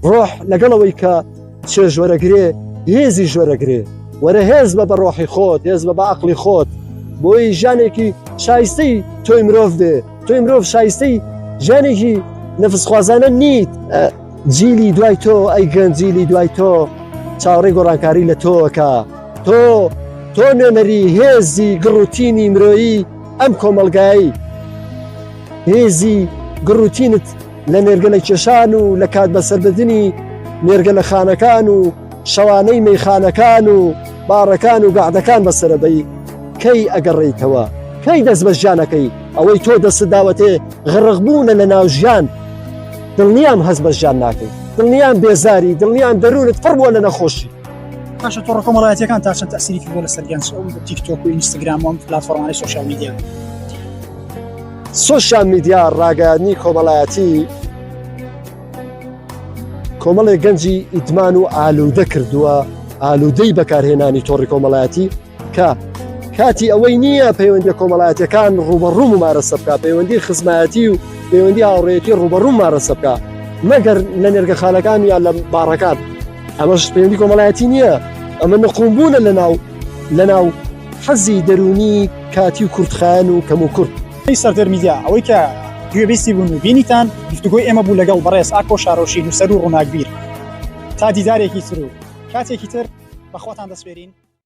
ڕۆح لەگەڵ ئەوەی کە چێ ژۆرەگرێ هێزی ژۆرەگرێ وەرە هێز بە بە ڕۆحی خۆت هێز بە بە عقلی خۆت بۆی ژانێکی شایستەی تۆی مرۆڤ دێ تۆی مرۆڤ شایستەی ژانێکی نەفسخوازانە نیت جیلی دوای تۆ ئەی گەنجیلی دوای تۆ چاوەڕێ گۆڕانکاری لە تۆکە تۆ تۆ نوێنەری هێزی گڕوتینی مرۆیی ئەم کۆمەلگایی هێزی گڕوتینت لە نێرگەلە کێشان و لە کات بەسەردەدنی نێرگەلەخانەکان و شەوانەی مەیخانەکان و باڕەکان و گەعدەکان بەسەرەبەی کەی ئەگەڕێیتەوە کەی دەست بە ژیانەکەی ئەوەی تۆ دەست داوەتێ غڕغبوونە لە ناو ژیان دڵنیام هەست بە ژیان ناکەیت دڵنیان بێزاری دڵنیان دەروونت پڕ بووە لە نەخۆشی باشە تۆڕە کۆمەڵایەتەکان تا چەند تاسیریکی بۆ لە سەرگەنج تیکتۆک و ئینستاگرام و پلتفۆرمانی سوشال میدیا سۆشیال میدیا ڕاگەیاندنی کۆمەڵایەتی کۆمەڵی گەنجی ئیدمان و ئالوودە کردووە ئالوودەی بەکارهێنانی تۆڕی کۆمەڵایەتی کە کاتی ئەوەی نییە پەیوەندی کۆمەڵایەتەکان ڕوبەڕوو و مارەسە بکە پەیوەندی خزمایەتی و پەیوەندی هاوڕێتی ڕوبەڕوو مارەسە بکە مەگەر لە نێرگە خالەکان یان لە باڕەکان ئەمەش پەیوەندی کۆمەڵایەتی نییە ئەمە نقوم بوونە لە ناو لە ناو حەزی دەروونی کاتی و کورتخایەن و کەم و کورت. ئەی سەردەر میدیا ئەوەی کە گوێبیستی بوون و بینیتان گفتوگۆی ئێمە بوو لەگەڵ بەڕێز ئاکۆ شارۆشی نووسەر و ڕووناکبیر تا دیدارێکی تر و کاتێکی تر بەخواتان دەسپێرین.